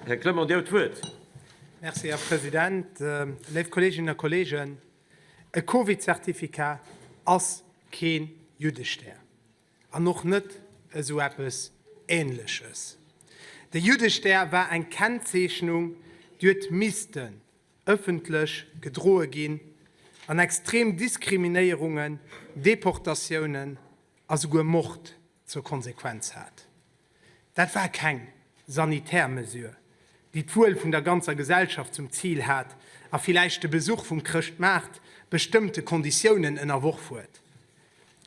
Här Clement, Dir huet d'Wuert. Merci, Här President. Léif Kolleeginnen a Kolleegen, e Covid-Zertifikat ass kee Juddestär an och net esou eppes Ähnleches. De Juddestär war eng Kennzeechnung, déi huet missten ëffentlech gedroe ginn an extrem Diskriminéierungen, Deportatiounen a souguer Mord zur Konsequenz hat. Dat war keng sanitär Mesure, déi d'Wuel vun der ganzer Gesellschaft zum Zil hat a villäicht de Besuch vum Chrëschtmaart bestëmmte Konditiounen ënnerworf huet.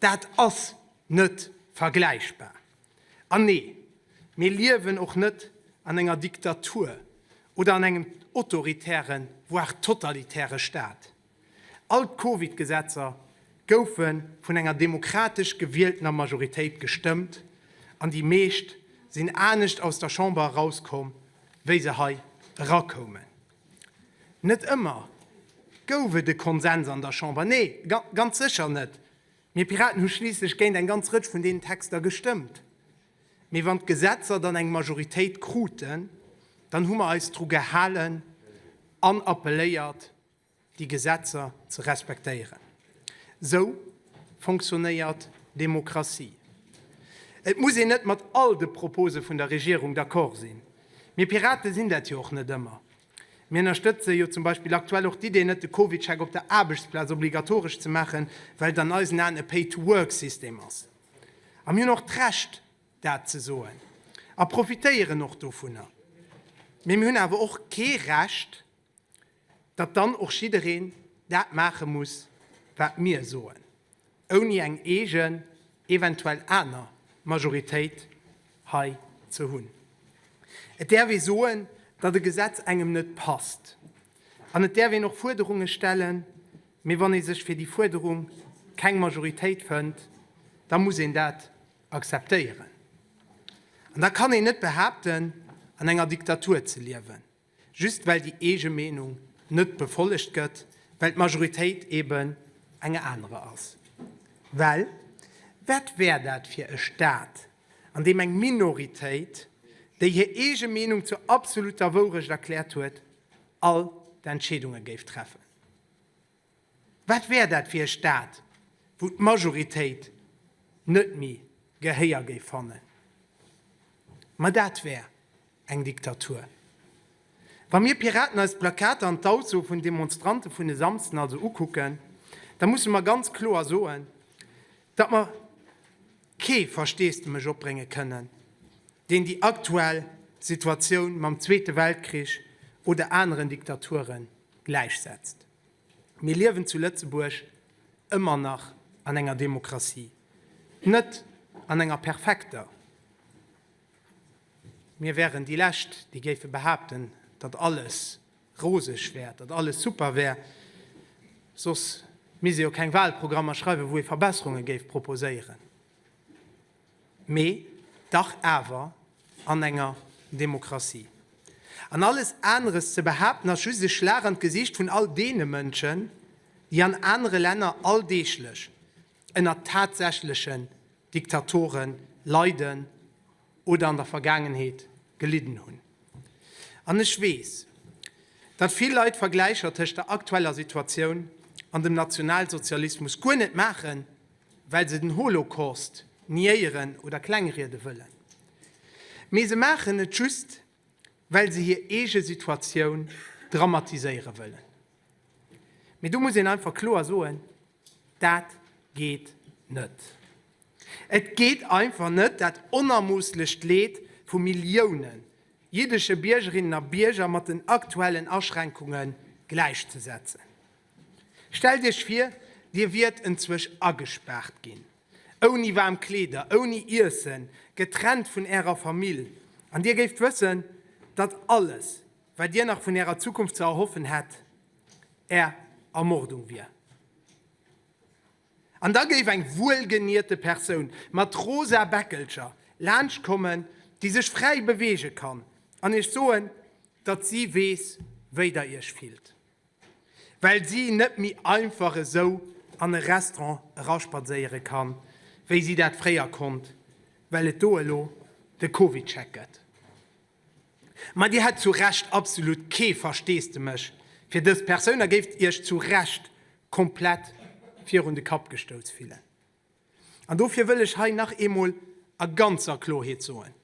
Dat ass net vergläichbar. An nee, mir liewen och net an enger Diktatur oder an engem autoritäre, voire totalitäre Staat. All d'Covid-Gesetzer goufe vun enger demokratesch gewieltener Majoritéit gestëmmt an déi meescht sinn anescht aus der Chamber erauskomm, wéi se hei erakoumen. Net ëmmer gouf et e Konsens an der Chamber, nee, ganz sécher net, mir Piraten hu schliisslech géint eng ganz Rëtsch vun deenen Texter gestëmmt. Mee wann d'Gesetzer dann eng Majoritéit kruten, dann hu mer eis dru gehalen an appelléiert, déi Gesetzer ze respektéieren. Esou fonctionnéiert Demokratie. Et muss een net mat all de Propose vun der Regierung d'accord sinn. Mir Piraten sinn dat jo och net ëmmer. Mir ënnerstëtze jo zum Beispill aktuell och d'Idee net, de Covidcheck op der Aarbechtsplaz obligatoresch ze maachen, well et an eisen Aen e Pay-to-work-System ass. A mir hunn och d'Recht, dat ze soen a profitéieren och dovunner. Mee mir hunn awer och kee Recht, datt dann och jiddereen dat maache muss, wat mir soen, ouni eng eegen, eventuell aner Majoritéit hei ze hunn. Et däerf ee soen, datt e Gesetz engem net passt, an et däerf een och Fuerderunge stellen, mee wann ee sech fir déi Fuerderung keng Majoritéit fënnt, da muss een dat akzeptéieren. An da kann een net behaapten, an enger Diktatur ze liewen. Just well déi eege Meenung net befollegt gëtt, well d'Majoritéit eben eng anerer ass. Well wat wär dat fir e Staat, an deem eng Minoritéit, déi hir eege Meenung zur absoluter Wourecht erkläert huet, all d'Entscheedunge géif treffen? Wat wär dat fir e Staat, wou d'Majoritéit net méi Gehéier géif fannen? Ma dat wär eng Diktatur. Wa mir Piraten eis d'Plakater an d'Ausso vun Demonstrante vun e Samsden also ukucken, da musse mer ganz kloer soen, datt mer kee Versteesdemech opbrénge kënnen, deen déi aktuell Situatioun mam Zweete Weltkrich oder aneren Diktaturen gläichsetzt. Mir liewen zu Lëtzebuerg ëmmer nach an enger Demokratie. Net an enger perfekter. Mir wären déi Lescht, déi géife behaapten, datt alles roseg wär, datt alles super wär. Soss misst ee jo keng Wahlprogrammer schreiwen, wou ee Verbesserunge géif proposéieren. Mee dach awer an enger Demokratie. An alles aneres ze behaapten, ass just e Schlag an d'Gesicht vun all deene Mënschen, déi an anere Länner alldeeglech ënner tatsächlechen Diktatore leiden oder an der Vergaangenheet gelidden hunn. An ech weess, datt vill Leit Vergläicher tëscht der aktueller Situatioun an dem Nationalsozialismus guer net maachen well se den Holocaust niéieren oder klengriede wëllen, mee se maachen et just, well se hir eege Situatioun dramatiséiere wëllen. Mee do muss een einfach kloer soen, Dat geet net! Et geet einfach net, dat onermoosslecht Leed vu Millioune jiddesche Biergerinnen a Bierger mat den aktuellen Aschränkunge gläichzesetzen. Stellt Iech vir, Dir wiert enzwech agespaart ginn, ouni waarm Kleeder, ouni Iessen, getrennt vun Ärer Famill, an Dir géift wëssen, datt alles, wat Dir nach vun Ärer Zukunft ze erhoffen hätt, Är Ermordung wier. An da géif eng wuelgenierte Persoun mat rosa Bäckelcher laanscht kommen, déi sech fräi beweege kann, an Iech soen, datt si weess, wéi Der Iech fillt. well si net méi einfach esou an e Restaurant eraspadséiere kann, wéi si dat fréier konnt, well et do elo de Covid-Check gëtt. Ma Dir hätt zu Recht absolut kee Versteesdemech fir dës Persoun a géift Iech zu Recht komplett virun de Kapp gestouss fillen. An dofir wëll ech hei nach eemol a ganzer Klorheet soen,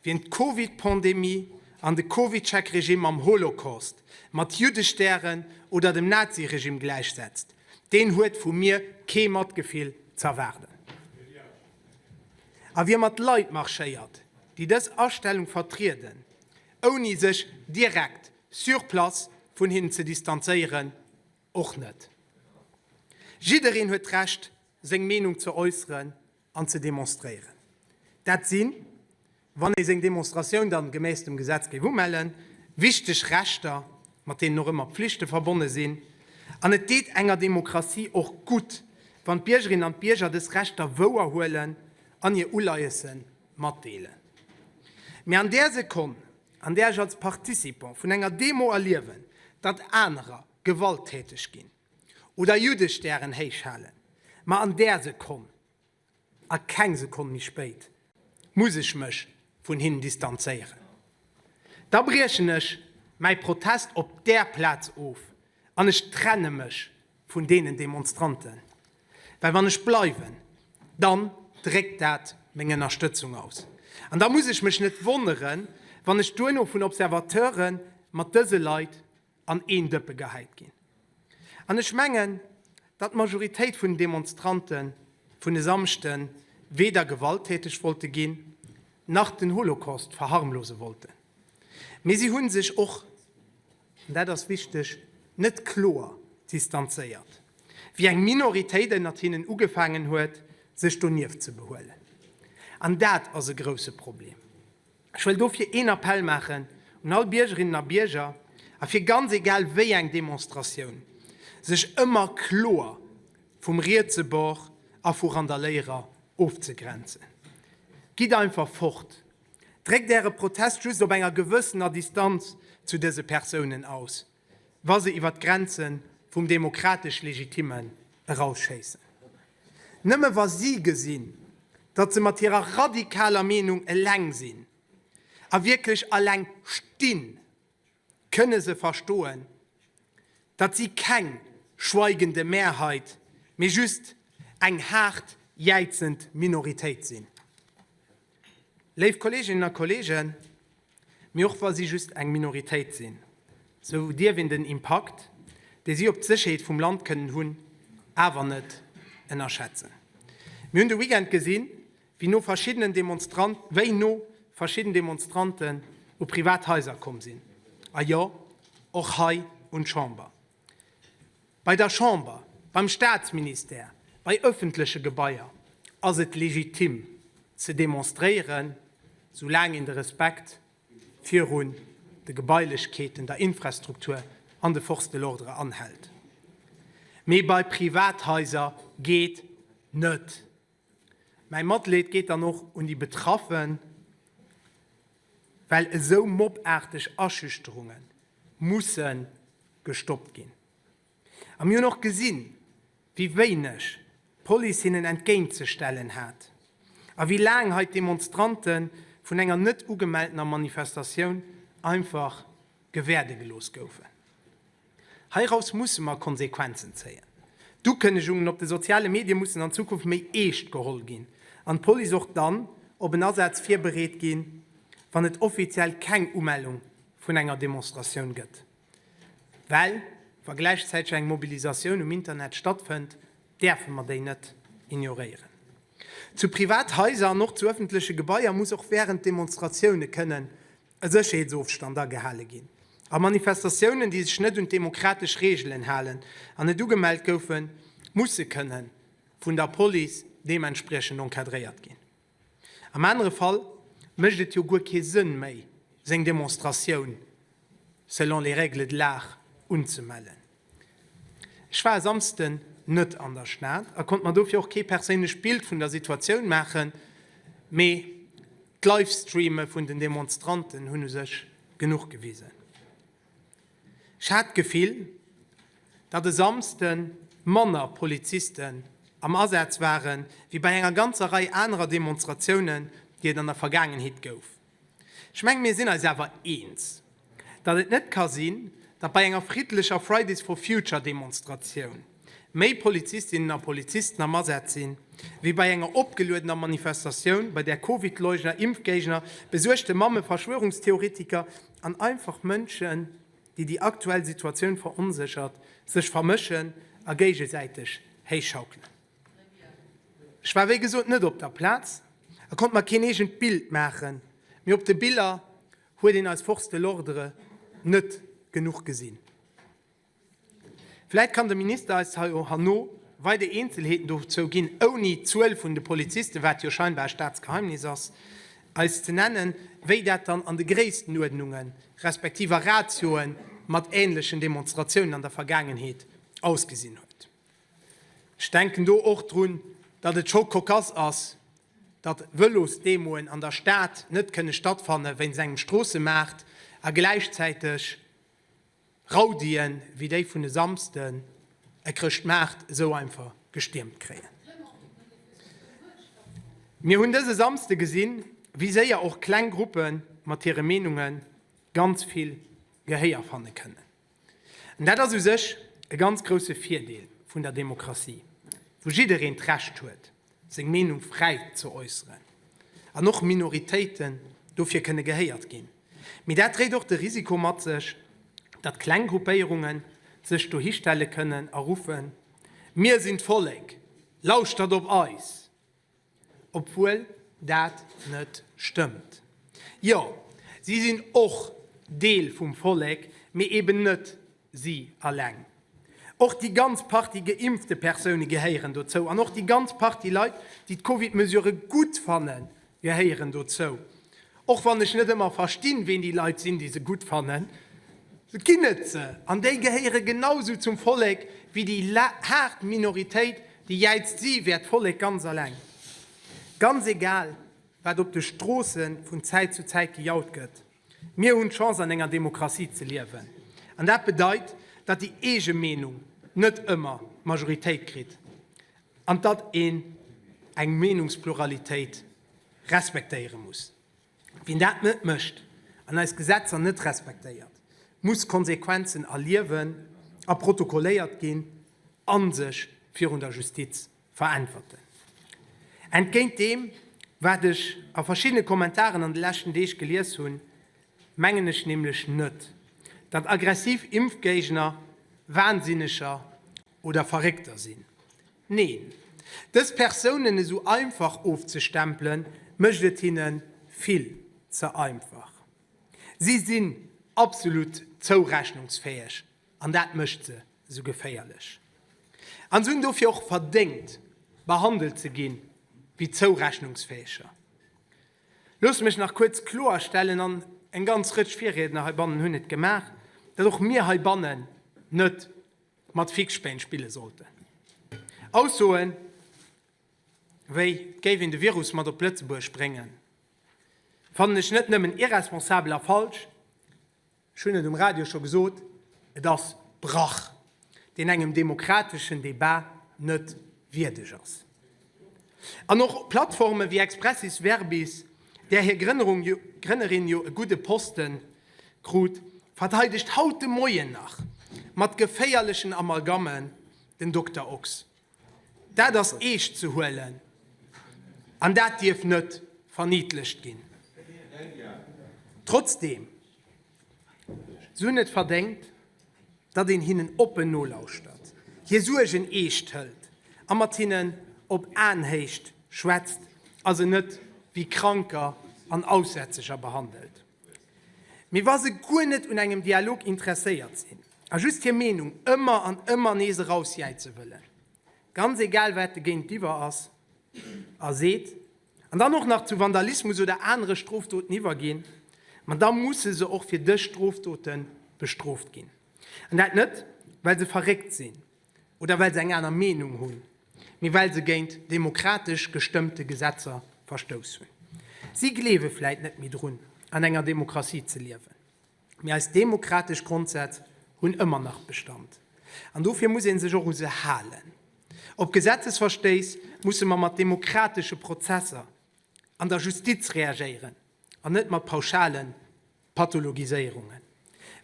Wien d'Covid-Pandemie an de Covidcheck-Regime mam Holocaust, mat Juddestären oder dem Nazi-Regime gläichsetzt, deen huet vu mir kee Matgefill z'erwaarden. A wie mat Leit marschéiert, déi dës Astellung vertrieden, ouni sech direkt sur place vun hinnen ze distanzéieren, Och net. Jiddereen huet d'Recht, seng Meenung ze äusseren an ze demonstréieren. Dat sinn, wann ee seng Demonstratioun dann gemäss dem Gesetz géif umellen, wichteg Rechter, mat deenen och ëmmer Pflichte verbonne sinn. An et deet enger Demokratie och gutt, wann d'Biergerinnen an d'Bierger dës Rechter wouer huelen an hir Uleiesse matdeelen. Mee an där Sekonn, an där ech als Participant vun enger Demo erliewen, datt anerer, gewalttäteg ginn oder Juddestär'en héichhalen, ma an där Sekonn, a keng Sekonn méi spéit, muss ech mech vun hinnen distanzéieren. Da briechen ech mäi Protest op där Plaz of an ech trenne mech vun deenen Demonstranten, well wann ech bleiwen, dann dréckt dat meng Ënnerstëtzung aus. An da muss ech mech net wonneren, wann ech duerno vun Observateure mat dëse Leit, an een Dëppe gehäit ginn. An ech mengen, datt d'Majoritéit vun den Demonstrante vun e Samschde weder gewalttäteg wollte ginn, nach den Holocaust verharmlose wollten. Mee si hu sech och, an dat ass wichteg, net kloer distanzéiert, wéi eng Minoritéit ënnert hinnen ugefaangen huet, sech donieft ze behuelen. An dat ass e grousse Problem. Ech wëll dofir een Appell maachen un all Biergerinnen a Bierger, a fir ganz egal wéi eng Demonstratioun, sech ëmmer kloer vum rietse Bord a vu Randaléierer ofzegrenzen. Gitt einfach fort! Dréckt Äre Protest just op enger gewëssener Distanz zu dëse Persounen aus. wa se iwwer d'Grenze vum demokratesch Legitimmen erausschéissen. Nëmme wa si gesinn, datt se mat hirer radikaler Meenung eleng sinn, a wierklech eleng stinn, kënne se verstoen, datt si keng schweigende Mehrheit, mee just eng haart jäizend Minoritéit sinn. Léif Kolleeginnen a Kolleegen, Mee och wa si just eng Minoritéit sinn, esou dierf een den Impakt, dee si op d'Sécherheet vum Land kënnen hunn, awer net ënnerschätzen. Mir hunn de Weekend gesinn, wéi no verschiddenen Demonstranten u privat Haiser komm sinn, a jo, och hei un d'Chamber. Bei der Chamber, beim Staatsministère, bei ëffentleche Gebaier ass et legitim ze demonstréieren, soulaang een de Respekt virun de Gebailechkeeten, der Infrastruktur an de Forces de l'ordre anhält. Mee bei Privathaiser geet net. Mäi Matleed geet dann och un déi Betraffen, well esou mobbaarteg Aschüchterunge musse gestoppt ginn. A mir hunn och gesinn, wéi wéineg d'Police hinnen entgéintzestellen hat a wéi laang hei d'Demonstrante vun enger net ugemeltener Manifestatioun einfach gewäerde gelooss goufen. Heiraus musse mer Konsequenzen zéien. D'Ukënnegungen op de soziale Medie mussen an Zukunft méi eescht geholl ginn an d'Police och dann op en Asaz virbereet ginn, wann et offiziell keng Umellung vun enger Demonstratioun gëtt. Well wa gläichzäiteg eng Mobilisatioun um Internet stattfënnt, däerfe mer déi net ignoréieren. Zu Privathaiser an och zu ëffentleche Gebaier muss och wärend Demonstratioune kënnen e Sécherheetsofstand agehale ginn a Manifestatiounen, déi sech net un d'demokratesch Reegelen halen an net ugemellt goufen, musse kënne vun der Police deementspriechend encadréiert ginn. Am anere Fall mécht et jo guer kee Sënn méi, seng Demonstratioun selon les règles de l'art unzemellen. Ech war e Samsden net an der Stad a konnt mer dofir och kee perséinlecht Bild vun der Situatioun maachen, mee d'Livestreame vun den Demonstranten hunn u sech genuch gewisen. Ech hat d'Gefill, datt e Samsde manner Polizisten am Asaz ware wéi bei enger ganzer Rei anerer Demonstratiounen, déi et an der Vergaangenheet gouf. Ech mengen, mir sinn eis awer eens, datt et net ka sinn, datt bei enger friddlecher Fridays for Future Demonstratioun méi Polizistinnen a Polizisten am Asaz sinn, wéi bei enger opgeluedener Manifestatioun, bei där Covidleugner, Impfgéigner, besuergte Mamme, Verschwörungstheoretiker an einfach Mënschen, déi déi aktuell Situatioun veronséchert, sech vermëschen a géigesäiteg héichschaukelen. Ech war wéi gesot net op der Plaz a konnt mer keen eegent Bild maachen, mee op de Biller huet een eis Forces de l'ordre net genuch gesinn. Vläit kann de Minister eis herno weider Eenzelheeten dozou ginn, ouni d'Zuel vun de Polizisten, wat jo scheinbar e Staatsgeheimnis ass, eis ze nennen, wéi dat dann an de Gréisstenuerdnunge respektiv a Ratioe mat änlechen Demonstratiounen an der Vergaangenheet ausgesinn huet. Ech denken do och drun, datt et scho kokass ass, datt Vëlosdemoen an der Stad net kënne stattfanne wéinst engem Stroossemaart a gläichzäiteg Rowdien, wéi déi vun e Samsden, e Chrëschtmaart esou einfach gestiermt kréien. Mir hunn dëse Samsde gesinn, wéi séier och kleng Gruppe mat hire Meenunge ganz vill Gehéier fanne kënnen. An dat ass u sech e ganz grousse Virdeel vun der Demokratie, wou jiddereen d'Recht huet, seng Meenung fräi ze äusseren an och Minoritéiten dofir kënne gehéiert ginn. Mee dat dréit och de Risiko mat sech, datt kleng Gruppéierunge sech dohi stelle kënnen a ruffen, Mir sinn d'Vollek, lauschtert op eis! Obwuel dat net stëmmt. Jo, si sinn och Deel vum Vollek, mee eben net si alleng. Och déi ganz Partie geimpfte Persoune gehéieren dozou. An och déi ganz Partie Leit, déi d'Covid-Mesurë gutt fannen, gehéieren dozou. Och wann ech net ëmmer verstinn, ween déi Leit sinn, déi se gutt fannen, et ginn et se, an déi gehéiere genau esou zum Vollek wéi déi haart Minoritéit, déi jäizt, si wär d'Vollek ganz eleng, ganz egal, wat op de Stroosse vun Zäit zu Zäit gejaut gëtt. Mir hunn d'Chance an enger Demokratie ze liewen, an dat bedeit, datt déi eege Meenung net ëmmer d'Majoritéit kritt, an datt een eng Meenungspluralitéit respektéiere muss. Wien dat net mécht an eis Gesetzer net respektéiert, muss Konsequenzen erliewen a protokolléiert ginn a sech virun der Justiz veräntwerten. Entgéint deem, wat ech a verschiddene Kommentaren an de leschten Deeg gelies hunn, mengen ech nämlech net, datt aggressiv Impfgéigner Wahnsinneger oder Verréckter sinn. Neen, dës Persounen esou einfach ofzestempelen, mécht et hinne vill ze einfach. Si sinn absolut zourechnungsfäeg an dat mécht se esou geféierlech. An se hunn dofir och verdéngt, behandelt ze gi wéi zourechnungsfäeger. Loosst mech nach kuerz kloerstellen, an eng ganz Rëtsch Virriedner heibannen hunn et gemaach, datt och mir heibannen net mat Fixspéin spille sollten. Aussoe wéi et géif een de Virus mat op Lëtzebuerg bréngen, fannen ech net nëmmen irresponsabel a falsch, ech hunn et um Radio scho gesot, et ass Brach, deen engem demokrateschen Debat net wierdeg ass. An och Plattforme wéi Expressis Verbis, där hir Grënnerin jo e gudde Poste krut, verteidegt haut de Moien nach mat geféierlechen Amalgammen den Dokter Ochs. Dat ass eescht ze huelen an dat dierf net verniidlecht ginn. Trotzdeem Si hunn et verdéngt, datt een hinnen oppen nolauschtert, hir Suergen eescht hëlt a mat hinnen op Aenhéicht schwätzt a se net wéi Kranker an Aussätzeger behandelt. Mee wa se guer net un engem Dialog interesséiert sinn a just hir Meenung ëmmer an ëmmer nees erausjäize wëllen, ganz egal wat de Géintiwwer ass a seet, An dann och nach zu Vandalismus oder anere Strofdoten iwwerginn, ma da musse se och fir dës Strofdote bestrooft ginn. An dat net, well se verréckt sinn oder well se eng aner Meenung hunn, mee well se géint demokratesch gestëmmte Gesetzer verstouss hunn. Si gleewe vläit net méi drun, an enger Demokratie ze liewen. Mee eis demokratesch Grondsätz hunn ëmmer nach Bestand. An dofir muss ee sech och u se halen. Op Gesetzesverstéiss musse mer mat demokratesche Prozesser an der Justiz reagéieren an net mat pauschale Pathologiséierungen.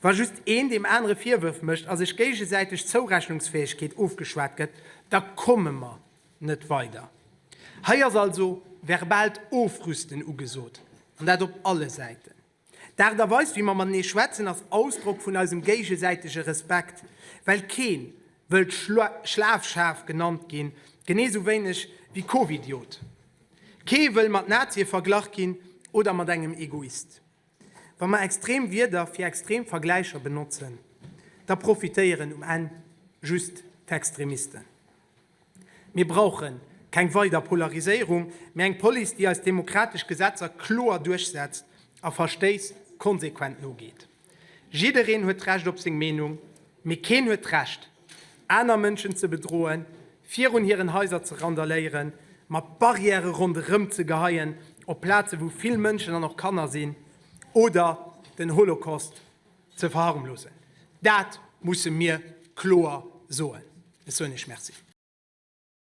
Wa just een deem anere Virwërf mécht a sech géigesäiteg Zourechnungsfäegkeet ofgeschwat gëtt, da komme mer net weider. Hei ass also verbaalt Ofrüsten ugesot, an dat op alle Säiten. D'Aart a Weis wéi mer matenee schwätzen ass Ausdrock vun eisem géigesäitege Respekt, well kee wëllt Schlafschaf genannt ginn, genee sou wéineg wéi Covidiot. Kee wëll mat Nazie verglach ginn oder mat engem Egoist. Wa mer extrem Wierder fir extrem Vergläicher benotzen, da profitéieren um Enn just d'Extremisten. Mir brauche keng weider Polariséierung, mee eng Police, déi eis demokratesch Gesetzer kloer duerchsetzt a Verstéiss konsequent nogeet. Jiddereen huet d'Recht op seng Meenung, mee keen huet d'Recht, aner Mënschen ze bedroen, virun hiren Haiser ze randaléieren, mat Barrièrë ronderëm ze geheien op Plaze wou vill Mënschen an och Kanner sinn oder den Holocaust Ze verharmlosen. Dat musse mir kloer soen. Ech soen Iech Merci.